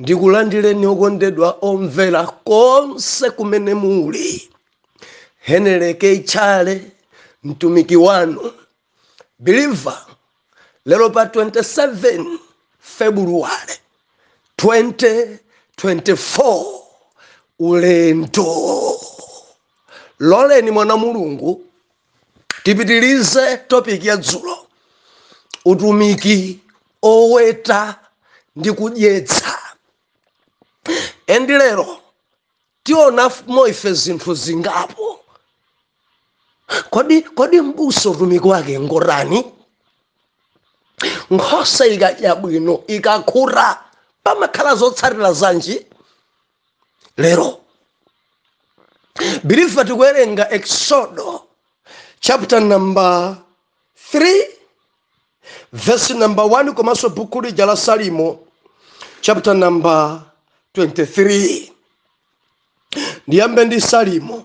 ndikulandireni okondedwa omvera konse kumene muli henry k chale mtumiki wanu believer lero pa 27 februwale 2024 ulendo loleni mwa mulungu tipitilize topic ya dzulo utumiki oweta ndi kudyetsa endi lero tionamo ife zinthu zingapo kodi kodi mbusa utumiki wake ngotani nkhosa ikadya bwino ikakhuta pamakhala zotsatira zanji lero biliva tikuwerenga eksodo chapter number 3 verse number 1 komanso buku lija la salimo chapter number 23 ndiyambe ndi salimo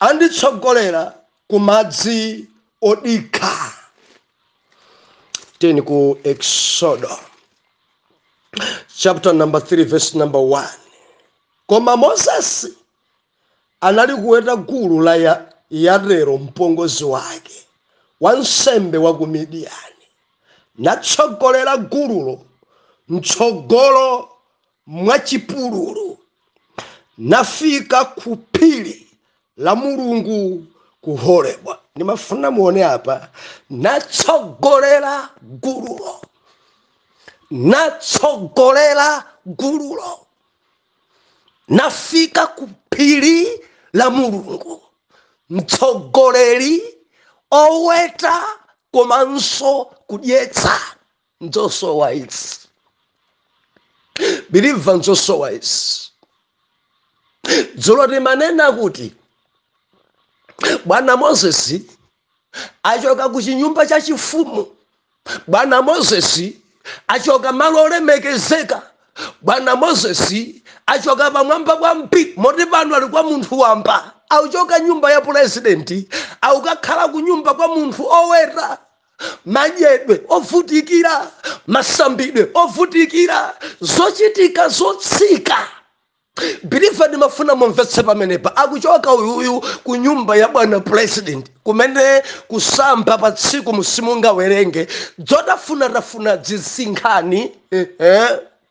anditsogolera ku madzi odikha tiyeni ku eksodo chapter number 3 verse number 1 koma moses anali kuweta gulu la ya, yetero mpongozi wake wansembe wa ku midiyani natsogolera gululo mtsogolo mwachipululu, nafika ku phiri la Mulungu ku Horebu. Nimafuna muone apa, natsogolera gululo, natsogolera gululo, nafika ku phiri la Mulungu, mtsogoleri oweta komanso kudyetsa. nzosowa izi biliva nzosowa izi dzulo timanena kuti bwana mozesi achoka ku chinyumba cha chifumu bwana mozesi achoka malo olemekezeka bwana mozesi achoka pamwamba kwambiri moti pano ali kwa munthu wamba akuchoka nyumba ya pulezidenti akukakhala ku nyumba kwa munthu oweta madyedwe ovutikira masambidwe ovutikira zochitika zotsika biliva ndimafuna mumvetse pamenepa akuchoka uyuyu ku nyumba ya bwana president kumene kusamba pa tsiku simungawerenge zotafunatafuna dzisinkhani eh, eh.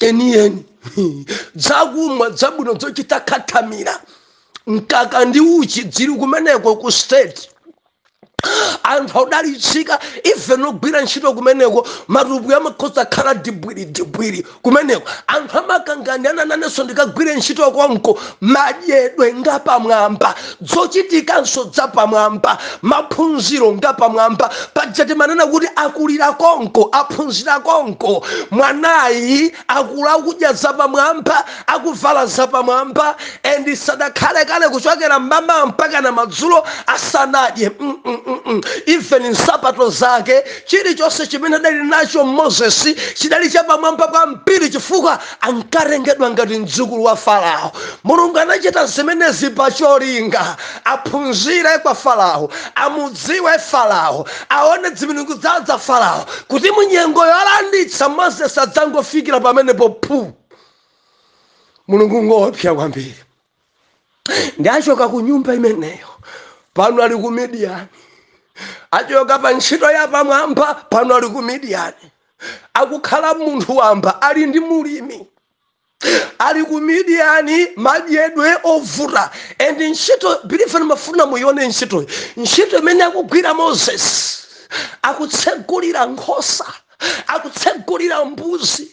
enieni dzakumwa dzabwino dzochita khathamira mkaka ndi uchi dziri kumeneko ku state anthu akudalitsika even ogwira ntchito kumeneko matupi amakhoza khala dibwiri dibwiri kumeneko anthu amakanganirana nanenso ndikagwire ntchito konko madyedwe ngapamwamba dzochitikanso dzapamwamba maphunziro ngapamwamba paja timanena kuti akulira konko aphunzira konko mwanayi akula akudya zapamwamba akuvala zapamwamba and sadakhale kale kuchokera mmamawa mpaka na madzulo asanadye mm -mm -mm. even nsapato zake chilichonse chimene adali nacho moses chidali chapamwamba kwambiri chifukwa ankawerengedwa ngati mdzukulu wa farao mulungu anachita zimenezi pa cholinga aphunzire kwa farao amudziwe farao aone dzimilungu dza dza farao kuti munyengo yolanditsa moses asadzangofikira pamenepo phu mulungu ngoopsa kwambiri ndi achoka ku nyumba imeneyo pano ali ku midiyani achoka pa ntchito ya pamwamba pano ali ku midiyani akukhala munthu wamba ali ndi mlimi ali ku midiyani madyedwe ovuta and ntchito biliva ndimafuna muyione ntchitoyi ntchito imene akugwira moses akutsogolera nkhosa akutsogolera mbuzi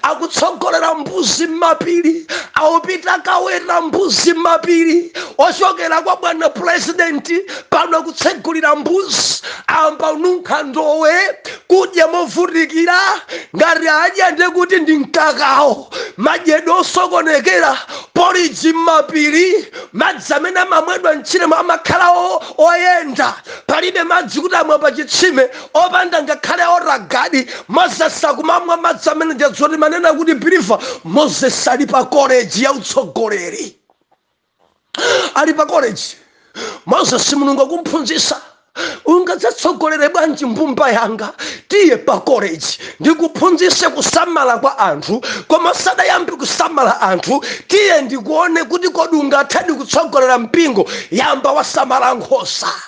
akutsogolera mbuzi m'mapiri akupita kaweta mbuzi m'mapiri ochokera kwa bwana purezidenti pano akutsegulira mbuzi ayamba kununkha ndowe kudya movutikira ngati adya nde kuti ndi mkakawo madyedwe osokonekera poliji m'mapiri madzi amene amamwedwa mtchiremo amakhala o- oyenda palibe madzi kuti amwa pa chitsime opanda ngakhale wotagadi moses akumamwa madzi amene paja timanena kuti biliva moses ali pa koleji ya utsogoleri ali pa koleji moses mulungu akumphunzisa ungadzatsogolere bwanji mbumba yanga tiye pa koleji ndikuphunzise kusamala kwa anthu koma usadayambe kusamala anthu tiye ndikuone kuti kodi ungathadi kutsogolera mpingo yamba wasamala nkhosa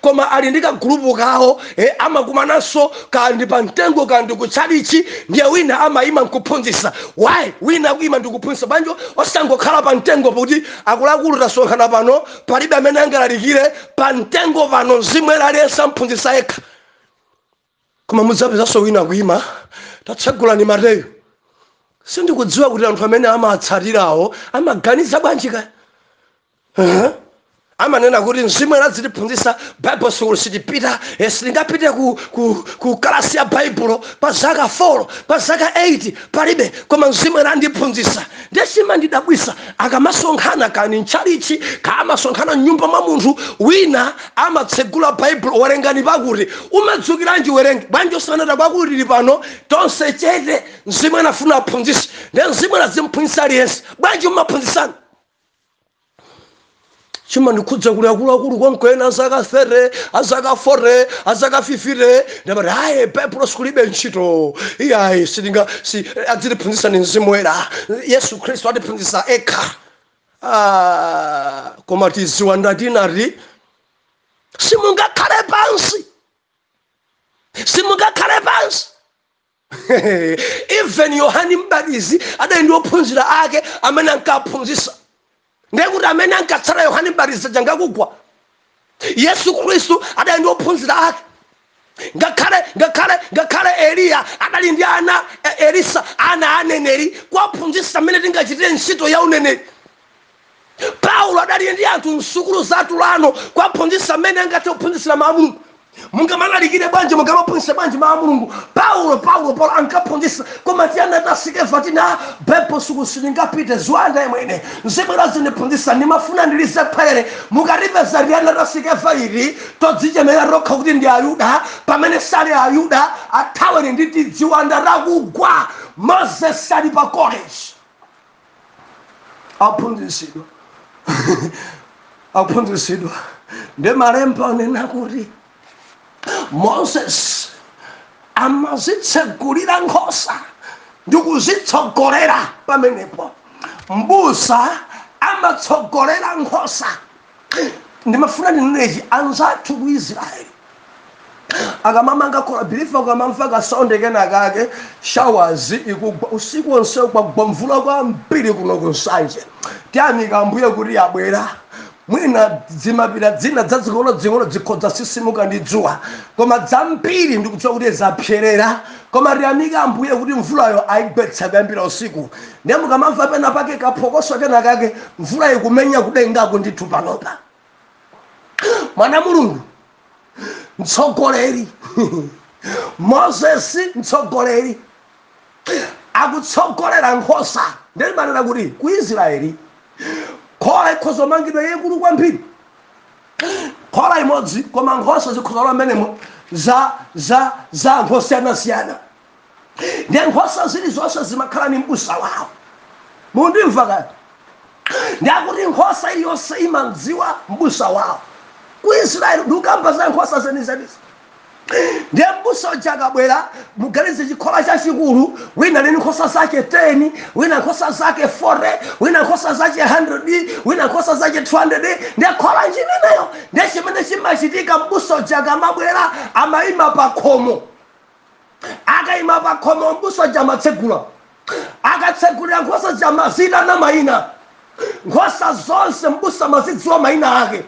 koma ali ndi kagulupu kawo eh, amakumananso kandi pa mtengo kandi kutchalichi ndiye wina amayima nkuphunzitsa why wina akuyima ndikuphunzitsa bwanji osangokhala pa mtengo kuti akuluakulu tasonkhana pano palibe amene angalalikire pa mtengo pano mzimu aliyense umphunzitsa yekha koma mudzapezanso wina kuima tatsegulani mateyu sindikudziwa kuti anthu amene amatsatirawo amaganiza bwanji kaya uh-huh. amanena kuti mzimu uzitiphunzisa bible school sitipita eh, sitingapite ku, ku, ku kalasi ya baibulo pa zaka 4 pa zaka 8 palibe koma mzimu woyera andiphunzitsa ndiye chimandidabwisa akamasonkhana kani mtchalichi kaya amasonkhana mnyumba mwa munthu wina amatsegula baibulo werengani pakuti umadzukiranji werenge bwanji usanata kwakuti tili pano tonse chete mzimu woyera afuna aphunzitse ndiye mzimu woyera azimphunzitsa aliyense bwanji umaphunzitsana chimandikhudza kuli akuluakulu konko ena azaka 30 azaka 40 azaka 50 nde amati ayi baibulo sukulu ilibe ntchito iyayi sitinga si, adzitiphunzitsa ni mzimu woyera yesu khristu atiphunzitsa ekha ah, koma tiziwanda tinati simungakhale pansi simungakhale pansi even yohani mbatizi adali ndi ophunzira ake amene ankaphunzisa ndiye kuti amene ankatsata yohani mbatizi changakugwa yesu khristu adali ndi ophunzira ake ngakhale ngakhale ngakhale eliya adali ndi ana e- elisa ana aneneri kuwaphunzisa mmene tingachitire ntchito ya uneneri paulo adali ndi anthu msukulu za tulano kuwaphunzitsa mmene angathe kuphunzitsira mawu a mulungu mungamalalikire bwanji mungamaphunzitse bwanji mawu a mulungu paulo paulo paulo ankaphunzitsa koma tiyana ta sikeva tina bible sukulu sitingapite ziwanda imwene nzibwera zindiphunzitsa ndimafuna ndilize kherere mukalipeza tiyana ta sikeva iti todzichemera tokha kuti ndi ayuda pamene sali ayuda athaweni ndi tidziwanda takugwa moses ali pa college aphunzisidwa aphunzisidwa ndi malemba anena kuti moses amazitsegulira nkhosa ndi kuzitsogolera pamenepo mbusa amatsogolera nkhosa ndimafuna ndinene ichi anzathu ku israel akamamanga khola believe mukamamva kasaundi kena kake showers ikugwa usiku onse kwagwa mvula kwambiri kuno ku nsanje tiyamika ambuye kuti yabwera mwina dzimapira dzina dzazing'onodzing'ono dzikhoza tsitsimuka ndi dzuwa koma dzambiri ndikudziwa kuti zapserera koma tiyamika ambuye kuti mvulayo ayigwetsa kuyambira usiku ndiye mukamamva pena pake kaphokoso kena kake mvula ikumenya kudengako ndithu panopa mwana mulungu mtsogoleri moses mtsogoleri akutsogolera nkhosa ndiye ndimanena kuti ku israeli khola ikhoza kumangidwa yayikulu kwambiri khola imodzi koma nkhosa zikhoza kulowa mmenemo za za za anthu osiyanasiyana ndiye nkhosa zilizonse zimakhala ni mbusa wawo mundimva kati ndiye kuti nkhosa iliyonse imamdziwa mbusa wawo ku israeli ndikukamba za nkhosa zenizenizi ndiye mbusa uja akabwera muganize chikhola chachikulu wina ali ni nkhosa zake 10 wina nkhosa zake 40 wina nkhosa zake 100 wina nkhosa zake 200 ndiye khola nchimeneyo ndiye chimene chimachitika mbusa uja akamabwera amayima pa khomo akaima pakhomo m'busa uja amatsegula akatsegulira nkhosa zija amaziitana mayina nkhosa zonse m'busa amazidziwa mayina ake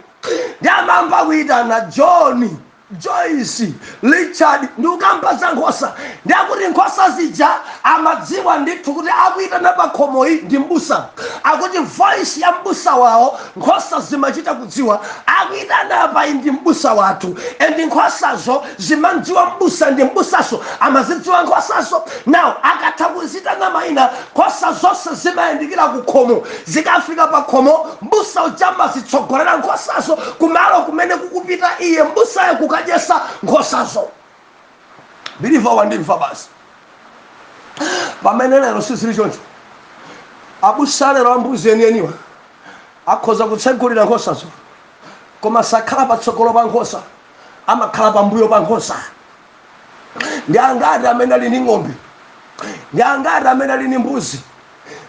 ndiye amayamba kuitana john joyce richard ndikukamba za nkhosa ndiye kuti nkhosa zija zimadziwa ndithu kuti akuitana pakhomoyi ndi m'busa akuti voice ya m'busa wawo Nkhosa zimachita kudziwa akuitana apayi ndi m'busa wathu and nkhosazo zimamdziwa m'busa ndi m'busaso amazidziwa nkhosazo now akatha kuzitana maina nkhosa zonse zimayandikira kukhomo zikafika pakhomo m'busa uja amazitsogolera nkhosazo kumalo kumene kukupita iye m'busayo kukadyesa nkhosazo. Believer wandimva basi. Pamene lero sizili choncho. Abusa lero ambuzi enieniwa akhoza kutsegulira nkhosazo koma sakhala patsogolo pa nkhosa amakhala pambuyo pa nkhosa ndi angati amene ali ndi ng'ombe ndi angati amene ali ndi mbuzi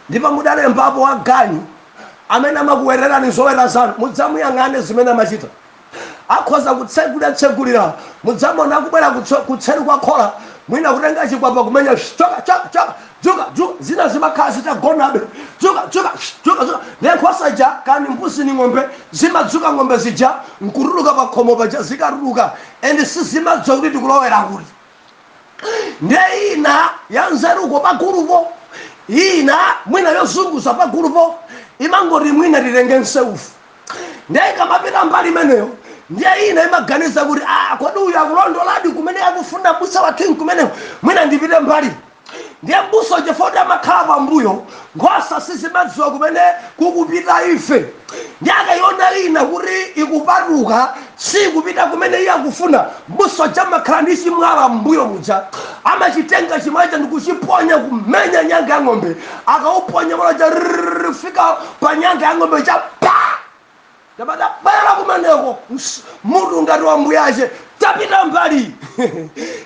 ndipo mudalembapo waganyu amene amakuwetelani zoweta zanu mudzamuyang'ane zimene amachita Akhoza kutsegula tsegulira mudzamona akubwera kutso kutseri kwa khola mwina kutenga chikwapa kumenya shh choka choka choka dzuka dzuka zina zimakhala zitagonabe dzuka dzuka shh dzuka dzuka ndiye nkhosa ija kani mbuzi ni ng'ombe zimadzuka ng'ombe zija nkutuluka pakhomo paja zikatuluka and sizimadziwa kuti tikulowera kuti ndiye ina yanzeruko pagulupo ina mwina yozunguza pagulupo imangoti mwina titenge nseufu ndiye ikamapita mbali imeneyo ndiye ina imaganiza kuti ah, kodi uyu akulondoladi kumene akufuna mbusa wathu nkumenewo mwina ndipite mbali ndiye mbusa chifukwa kuti amakhala pambuyo nkhosa sizimadziwa kumene kukupita ife ndiye akayiona ina kuti ikupatuka sikupita kumene iye akufuna, m'busa uja amakhala ndi chimwala m'mbuyo muja, amachitenga chimwala chija ndikuchiponya kumenya nyanga ya ng'ombe, akauponya mwala uja rrrr kufika pa nyanga ya ng'ombe uja pa! Nyamata bwera kumeneko, ns, mutu ngati wa mbuyache, tapita mbali iyi!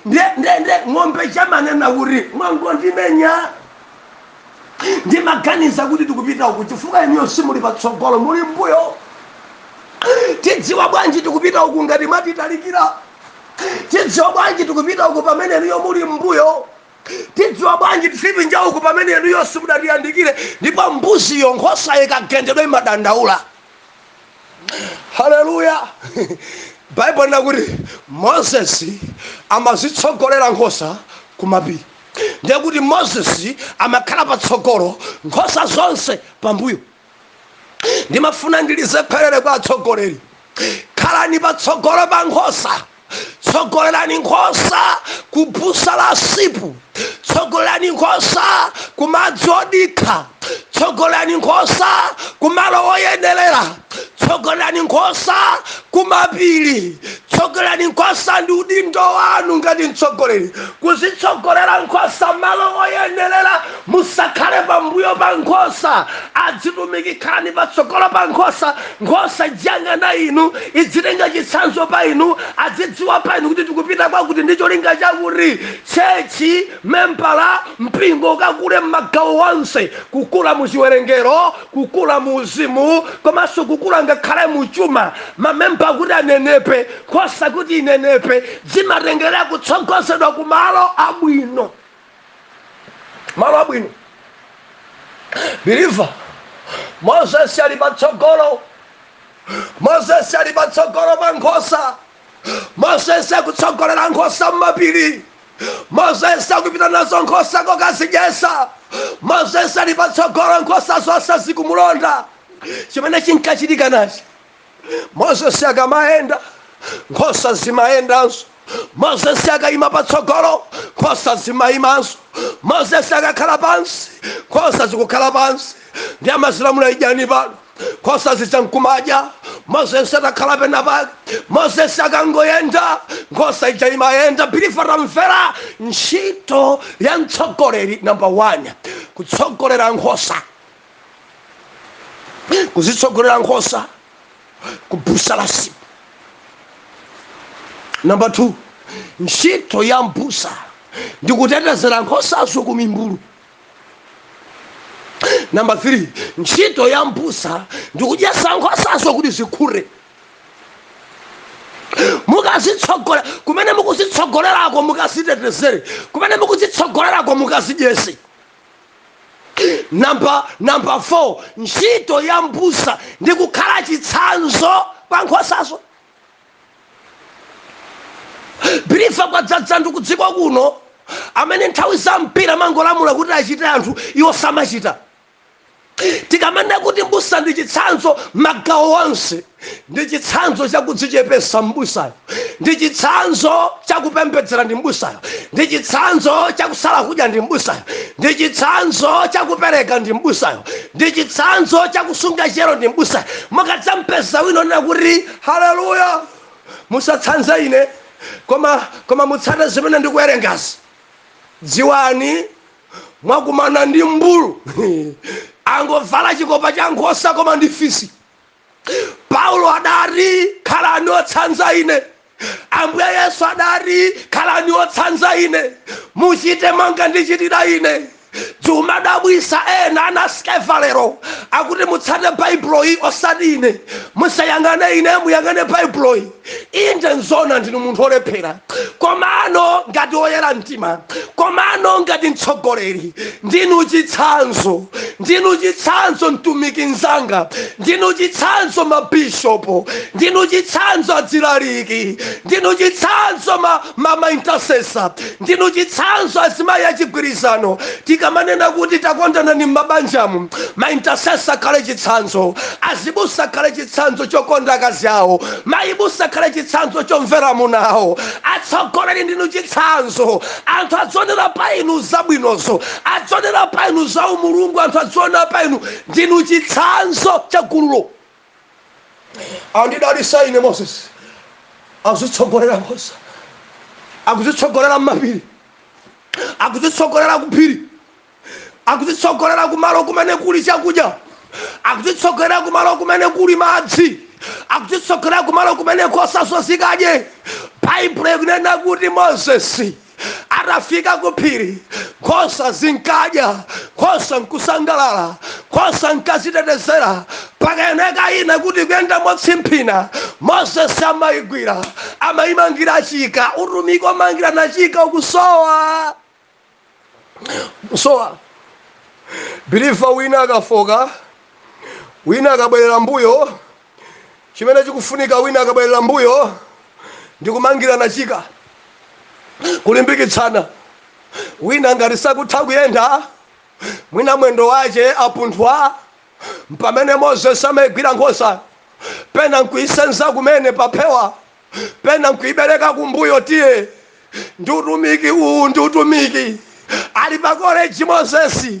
ndiye, ndiye, ndiye ng'ombe ija imanena kuti, mwangondimenya! ndimaganiza kuti tikupita uku chifukwa inuyo simuli patsogolo muli mbuyo tidziwa bwanji tikupita uku ngati mwatitalikira tidziwa bwanji tikupita uku pamene inuyo muli mbuyo tidziwa bwanji tizipita uku pamene inuyo simudatiyandikire ndipo mbuziyo nkhosa ikagendedwa imadandaula haleluya baibulo linena kuti moses amazitsogolera nkhosa kumapiri ndiye kuti moses amakhala patsogolo nkhosa zonse pambuyo ndimafuna ndilize kherere kwa atsogoleri khalani patsogolo pa nkhosa tsogolerani nkhosa ku busa la sipu tsogolerani nkhosa ku madzi odikha tsogolerani nkhosa kumalo oyenerera tsogolerani nkhosa kumapiri tsogolerani nkhosa ndi udindo wanu ngati mtsogoleri kuzitsogolera nkhosa malo oyenerera musakhale pambuyo pa nkhosa adzitumiki khalani patsogolo pa nkhosa nkhosa idziyang'ana inu idzitenga chitsanzo pa inu adzidziwa pa inu kuti tikupita kwakuti ndi cholinga chakuti tchechi membala, mpingo ukakule m'magawo onse, kukula mu chiwerengero, kukula mu uzimu, komanso kukula ngakhale mu chuma. Mamemba kuti anenepe, nkhosa kuti inenepe, zimatengera kutsogozedwa ku malo abwino, malo abwino. Biliva, Moses ali patsogolo, Moses ali patsogolo pa nkhosa, Moses akutsogolera nkhosa m'mapiri. Mozesi akupita nazo nkhosa kokazidyetsa. Mozesi ali patsogolo, nkhosa zonse zikumulonda. Chimene chinkachitika nachi, Mozesi akamayenda, nkhosa zimayendanso. Mozesi akaima patsogolo, nkhosa zimaimanso. Mozesi akakhala pansi, nkhosa zikukhala pansi. ndi amazilamula idyani pano nkhosa zija nkumadya mozesi atakhala pena pake mozesi akangoyenda nkhosa ija imayenda biliva tamvera ntchito ya mtsogoleri namba 1 kutsogolera nkhosa kuzitsogolera nkhosa kubusa la sipu namba 2 ntchito ya mbusa ndikutetezera nkhosazo ku mimbulu namba 3 ntchito ya mbusa ndikudyesa nkhosazo kuti zikhute mukazitsogolera kumene mukuzitsogolerako mukazitetezere kumene mukuzitsogolerako mukazidyese namba namba 4 ntchito ya mbusa ndi kukhala chitsanzo pa nkhosazo believer kwadzadza anthu kudziko kuno amene nthawi zambiri amangolamula kuti achite anthu iwo samachita tikamanena kuti mbusa ndi chitsanzo magawo onse ndi chitsanzo chakudzichepesa mbusayo ndi chitsanzo chakupembedzera ndi mbusayo ndi chitsanzo chakusala kudya ndi mbusayo ndi chitsanzo chakupereka ndi mbusayo ndi chitsanzo cha kusunga chiyero ndi m'busayo mukadzampeza wina onena kuti haleluya musatsanze ine koma koma mutsate zimene ndikuwerengazi dziwani mwakumana ndi mbulu angovala chikopa cha nkhosa koma ndi fisi paulo adati khalani otsanza ine ambuye yesu adati khalani otsanza ine muchite monga ndichitira ine zimadabwisa ena ana a skeva lero akuti mutsate baibuloyi osati ine musayang'ane ine muyang'ane baibuloyi Inde, n'zoona ndinu munthu wolephera. Komano ngati woyera mtima, komano ngati mtsogoleri, ndinu chitsanzo. Ndinu chitsanzo mtumiki mnzanga. Ndinu chitsanzo mabishopu. Ndinu chitsanzo azilaliki. Ndinu chitsanzo ma, ma, ma intercessor. Ndinu chitsanzo azimayi achigwirizano tikamanena kuti takondanani mmabanjamu ma intercessor akhale chitsanzo, azibusa akhale chitsanzo chokonda akazi awo, mayi busa akhale chitsanzo chomvera amuna awo, atsogoleri ndinu chitsanzo anthu adzionera pa inu zabwinozo, adzionera pa inu za umulungu, anthu adzionera pa inu ndinu chitsanzo cha gululo. andidalitsa ine moses akuzitsogolera nkhosa akuzitsogolera mmapiri akuzitsogolera kuphiri akuzitsogolera kumalo kumene kuli chakudya akuzitsogolera kumalo kumene kuli madzi akuzitsogolera kumalo kumene nkhosa zo zikadye baibulo ikunena kuti moses atafika ku phiri nkhosa zinkadya nkhosa nkusangalala nkhosa nkazitetezera pakaoneka ina kuti ikuyenda motsimphina moses amayigwira amayimangira chika utumiki omangirana chika ukusowa kusowa believer wina akafoka wina akabwerera mbuyo chimene chikufunika wina akabwerera mbuyo ndi kumangirana chika kulimbikitsana wina ngati sakutha kuyenda mwina mwendo wache wapunthwa mpamene moses amaigwira nkhosa pena nkuisenza kumene paphewa pena nkuibereka kumbuyo tiye ndi utumiki uwu ndi utumiki ali pa koleji mozesi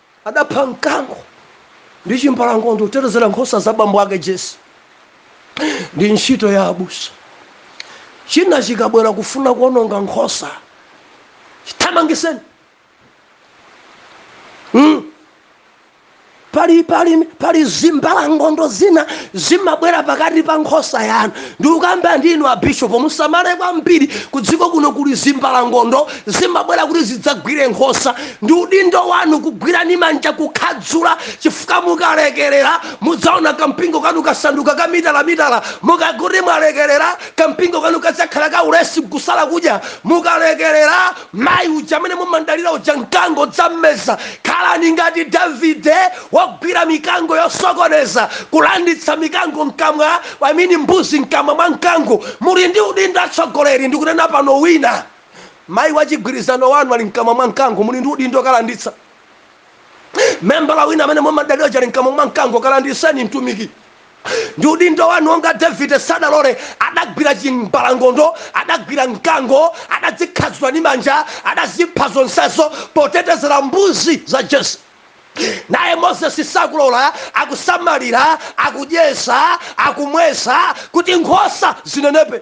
adapha mkango ndi chimbalangondo kutetezera nkhosa za bambo ake Jesse ndi ntchito ya abusa china chikabwera kufuna kuononga nkhosa chithamangiseni mm. pali pali pali zimbalangondo zina zimabwera pakati pa nkhosa yanu Ndikukamba ndi inu abishopo musamale kwambiri kudziko kuno kuli zimbalangondo zimabwera kuti zidzagwire nkhosa ndi udindo wanu kugwira ndi manja kukhadzula chifukwa mukalekerera mudzaona kampingo kanu kasanduka ka mitala mitala mukakuti mwalekerera kampingo kanu kadzakhala ka ulesi kusala kudya mukalekerera Mayi uja amene mumamdalira uja mkango udzammeza. Khalani ngati Davide wogwira mikango yosokoneza, kulanditsa mikango mkamwa, I mean mbuzi mkamwa mwa mkango. Muli ndi udindo atsogoleri ndikunena pano wina mayi wachigwirizano wanu ali mkamwa mwa mkango muli ndi udindo wokalanditsa. Membala wina amene mumamdalira uja ali mkamwa mwa mkango kalanditseni mtumiki. Ndi udindo wanu monga Davide sadalole adagwira chimbalangondo adagwira mkango adazikhadzula ndi manja adazipha zonsezo potetezera mbuzi za Jesse naye Moses sakulola akusamalira akudyesa akumwesa kuti nkhosa zinenepe.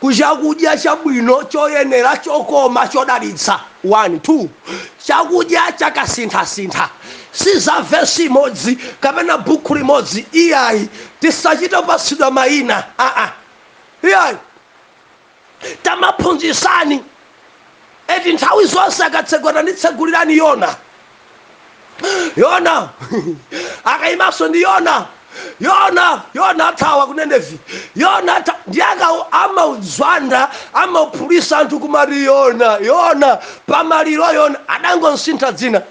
ku chakudya chabwino, choyenera, chokoma, chodalitsa 1 2 Chakudya cha kasinthasintha si za vesi imodzi kapena buku limodzi iyayi. Tisachite kupatsidwa mayina aa iyayi. Tamaphunzitsani eti nthawi zonse akatsegula tanditsegulirani yona yona akayimanso ndi yona yona yona athawa ku Nineve yona atha ndiye akawo amaudzwanda amauphulisa anthu kumaliro yona yona pamaliro yona adangomsintha dzina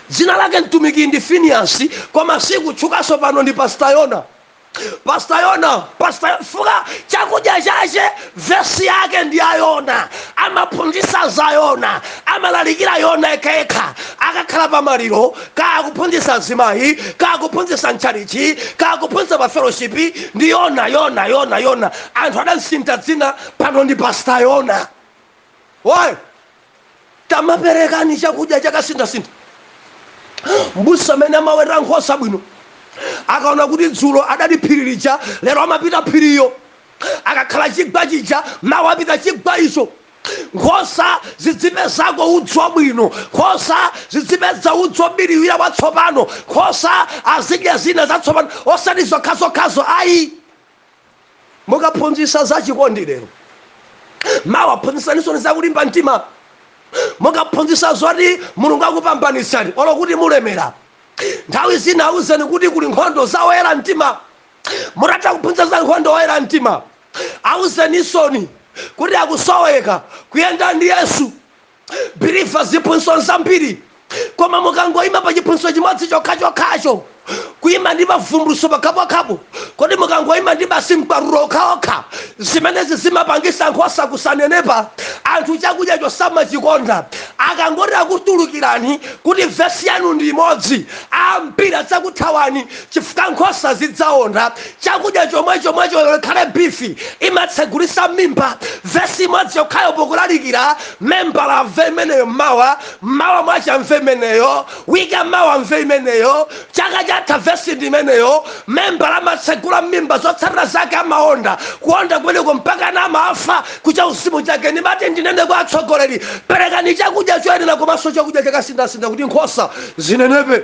dzina lake mtumiki ndi finiyasi koma silikutchukanso pano ndi pasita yona Pastor Yona, Pastor Yona, fuka chakudya chache vesi yake ndi ya Yona, amaphunzitsa za Yona, amalalikira Yona yekhayekha, akakhala pa maliro, kaya kuphunzitsa azimayi, kaya kuphunzitsa mtchalichi, kaya kuphunzitsa pa fellowship, ndi Yona, Yona, Yona, Yona. Anthu adamsintha dzina pano ndi Pastor Yona. Why? tamaperekani chakudya chakasinthasintha mbusa amene amaweta nkhosa bwino akaona kuti dzulo adali phiri lija lero amapita phiri ilo akakhala chigwa chija mawa apita chigwa icho nkhosa zidzipezako udzu wabwino nkhosa zidzipeza udzu wobiriwira watsopano nkhosa zizidya zina zatsopano osati zokhazokhazo ayi mukaphunzitsa za chikondi lero mawa phunzitsanisoni za kulimba mtima mukaphunzitsa zoti mulungu akupambanitsani olo kuti mulemera nthawi zina awuzeni kuti kuli nkhondo za oyera mtima mutatha kuphunzitsa za nkhondo oyera mtima awuzenisoni kuti akusoweka kuyenda ndi yesu believer ziphunzitso zambiri koma mukangoyima pa chiphunzitso chimodzi chokhachokhacho kuyima ndi mavumbulutso pakhapokhapo kodi mukangoyima ndi basi mkwatulo okhaokha zimenezi zimapangisa nkhosa kusanenepa anthu chakudya chosamachikonda akangoti akutulukirani kuti vesi yanu ndi imodzi ambiri adzakuthawani chifukwa nkhosa zidzaonda Chakudya chomwechomwecho olo ikhale beef imatsegulisa mmimba vesi imodzi yokhayo pokulalikira membala amve imeneyo mmawa mmawa mwache amve imeneyo week ya mawa amve imeneyo chaka chatha vesi ndi imeneyo membala amatsegula mmimba zotsatira zake amaonda kuonda kumeneko mpakana amafa ku chauzimu chake ndimati ndinene kwa atsogoleri perekani chakudya choyenera komanso chakudya chakasinthasintha kuti nkhosa zinenepe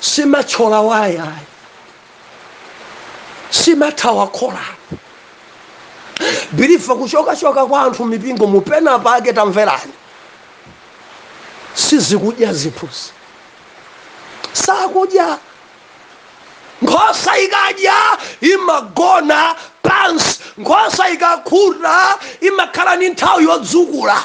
simatchola waya ayi simathawa khola biliva kuchokachoka kwa anthu mipingo mupena pake tamverani sizikudya zimbuzi sakudya nkhosa ikadya imagona pansi nkhosa ikakhuta imakhala ni nthawi yodzukula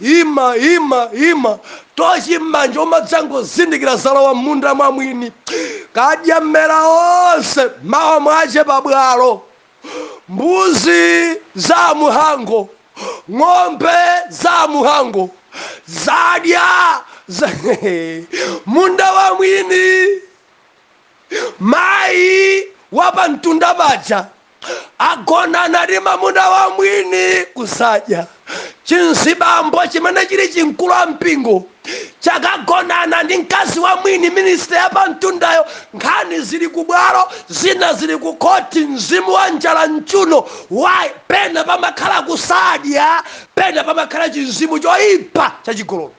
Ima, ima, ima! Tochi m'manja umadzangozindikira zalowa m'munda mwa mwini. Kadya mmera onse, mawa mwache pa bwalo. Mbuzi za a Muhango, ng'ombe za a Muhango, zadya munda wa mwini. Mayi wa pa mtunda paja agonana ndi mamuna wa mwini kusadya chimzibambo chimene chili chimkulu wa mpingo chakagonana ndi mkazi wa mwini minisita ya pamtundayo nkhani zili ku bwalo zina zili ku khoti mzimu wa njala mchuno why pena pamakhala kusadya pena pamakhala chimzimu choyipa chachigololo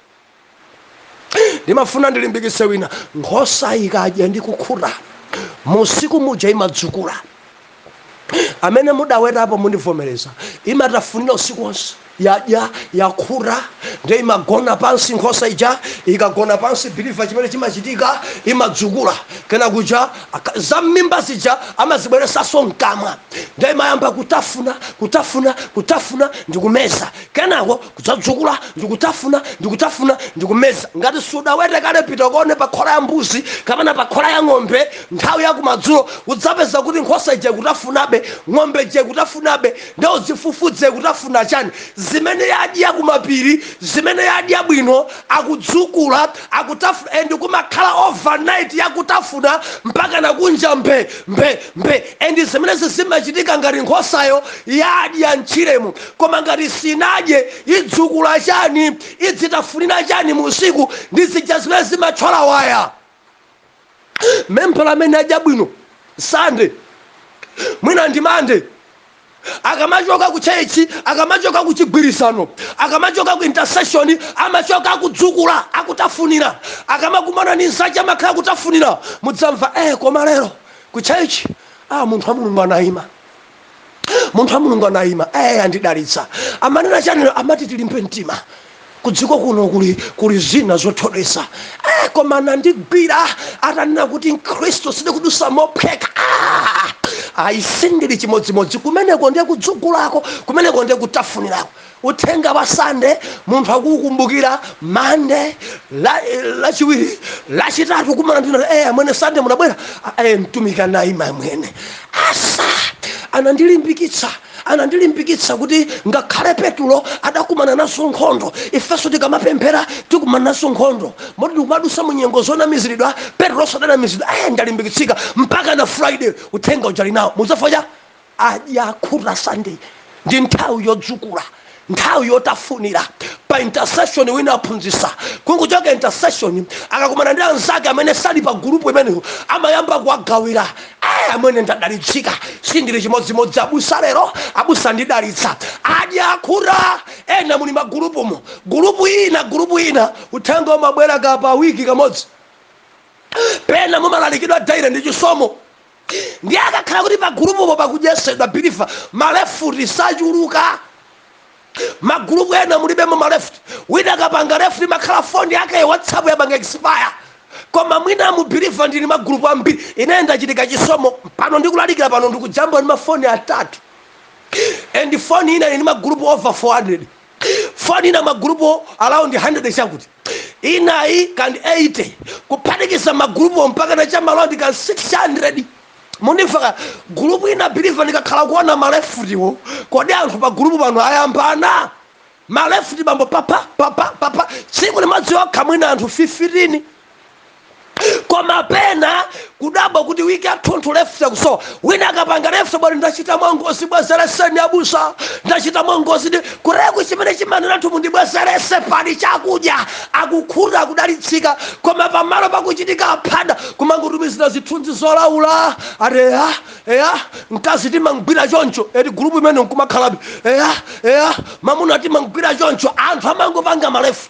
ndimafuna ndilimbikitse wina nkhosa ikadya ndi kukhuta musiku muja imadzukula amene mudawetapo mundivomereza imatafunira usiku wonse yadya yakhuta nde imagona pansi nkhosa ija ikagona pansi biliva chimene chimachitika imadzukula kenaka kuja za mmimba zija amazibweresaso mkamwa nde imayamba kutafuna kutafuna kutafuna ndikumeza kenako kudzadzukula ndikutafuna ndikutafuna ndikumeza ngati sudawete kale pita kone pa khola ya mbuzi kapena pa khola ya ng'ombe nthawi ya kumadzulo udzapeza kuti nkhosa ija ikutafunabe ng'ombe ija ikutafunabe nde uzifufuze ikutafuna chani zimene yadya kumapiri zimene yadya bwino akudzukula akutafuna and kumakhala overnight yakutafuna mpaka nakunja mbe mbe mbe and zimenezi zimachitika ngati nkhosayo yadya mtchiremo koma ngati sinadye idzukula chani idzitafunira chani musiku ndi zija zimene zimathyola waya membala amene adya bwino sande mina ndi mande akamachoka ku church akamachoka ku chigwirizano akamachoka ku intercession amachoka akudzukula akutafunira akamakumana ndi nzache amakhala akutafunira mudzamva eh koma lero ku church ah munthu wa mulungu anayima munthu wa mulungu anayima ee andidalitsa amanena chani amati tilimbe mtima kudziko kuno kuli kuli zina zothodwesa eh, koma anandigwira atanena kuti mkhristu sikudutsa mophweka ah! ayi sindili chimodzimodzi kumeneko ndiye kudzukulako kumeneko ndiye kutafunirako uthenga wa sande munthu akuukumbukira mande lachiwiri lachitatu kumana ndina e eh, amwene sande munabwera e eh, mtumiki anayima amwene asa anandilimbikitsa anandilimbikitsa kuti ngakhale petulo adakumana nazo nkhondo ifenso tikamapemphera tikumana nazo nkhondo moti ndikumadutsa mu nyengo zonamiziridwa petulo sadanamiziridwa e ndalimbikitsika mpaka na friday uthenga uja ali nawo muzafocha adya akhuta sunday ndi nthawi yodzukula nthawi yotafunira pa intercession wina aphunzitsa kungochoka intercession akakumana ndi anzake amene sali pa gulupu imeneyo amayamba kuwagawira aya amwene ndadalitsika sindili chimodzimodzi abusa lero abusa andidalitsa adya akhuta ena muli magulupumo gulupu ina gulupu ina uthenga umabwera kapa wiki kamodzi pena mumalalikidwa daily ndi chisomo ndiye akakhala kuti pa gulupupo pakudyetsedwa biliva malefuti sachuluka magulupu ena mulibemo malefuti wina akapanga lefuti imakhala foni yake whatsapp yapanga expire koma mwina mu biliva ndili magulupu ambiri ine ndachita chisomo pano ndikulalikira pano ndikujambula ndi mafoni atatu and foni ina ili ndi magulupu over 400 Foni ina magulupuwo around 100 chakuti, inayi kan 80 kuphatikiza magulupuwo mpakana cha ma around kan 600 mundifaka gulupu ina believer ndikakhala kuona ma leftiwo, kodi anthu pa gulupu pano ayambana ma left bambo pha pha pha tsiku limodzi lokha mwina anthu 15, koma pena kudabwa kuti wiki yathunthu left ikusowa wina akapanga left bwali ndachita mwangozi bwezereseni abusa ndachita mwangozi ndi kulephu chimene chimanena anthu mundibwezerese pali chakudya akukhuta akudalitsika koma pamalo pakuchitika aphada kumangotumizira zithunzi zolaula ati eya eya mkazi timamgwira choncho eti gulupu imene nkumakhalabe eya eya mamuna timamgwira choncho anthu amangopanga maleft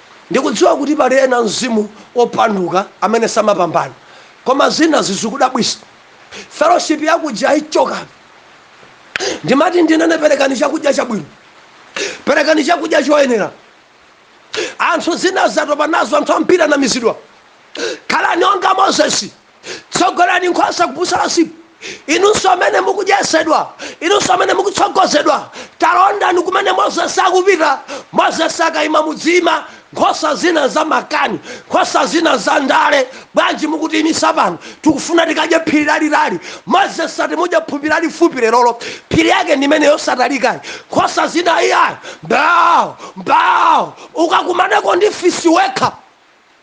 Ndikudziwa kuti pali ena mzimu wopanduka amene samapambana koma zina zikudabwisa fellowship yakudya ichokapo ndimati ndinene perekani chakudya chabwino perekani chakudya choyenera anthu zinazi atopa nazo anthu ambiri anamizidwa khalani onga Moses tsogolani nkhosa kubusa la msipu inunso amene mukudyetsedwa inunso amene mukutsogozedwa talondani kumene mozesi akupita mozesi akayima mudziyima nkhosa zina za makani nkhosa zina za ndale bwanji mukutiyimisa pano tikufuna tikadye phiri lalitali mozesi ati mudye phiri lalifupi lerolo phiri yake ndi imene yosatalikayi nkhosa zina iyayi mbawo mbawo ukakumaneko ndi fisi wekha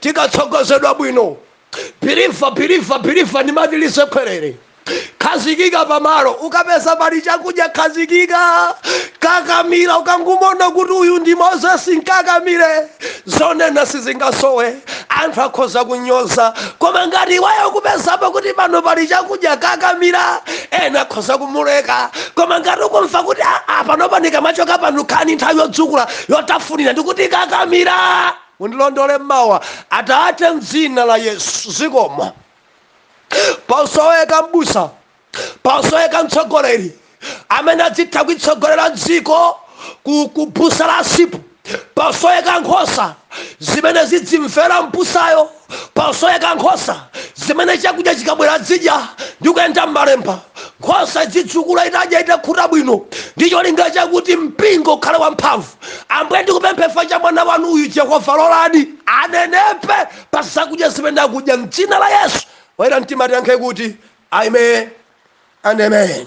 tikatsogozedwa bwino biliva biliva biliva ndimati usekerere khazikika pamalo ukapeza pali chakudya khazikika kakamira ukangumona kuti uyu ndi mozesi nkakamire zonena sizingasowe anthu akhoza kunyoza koma ngati iweyo ukupezapo kuti pano pali chakudya kakamira ena akhoza kumuleka koma ngati ukumva kuti "Ah, ah, panopa ndikamachoka pano khani nthawi yodzukula yotafunira ndikuti kakamira Mundilondole mmawa, Atate, m'dzina la Yesu. Zikomo. Pasoweka m'busa, pasoweka mtsogoleri amene adzitha kuitsogolera dziko ku, ku busa la msipu. Pasoweka nkhosa zimene zidzimvera m'busayo. pasoweka nkhosa zimene chakudya chikabwera idzidya ndi kuyenda m'malemba nkhosa idzidzukula itadya itakhuta bwino ndi cholinga chakuti mpingo ukhale wamphamvu ambuye ndikupempherera mwana wanu uyu yehova lolani anenepe pa zakudya zimene akudya mdzina la yesu oyera mtima tiyankhe kuti amen and amen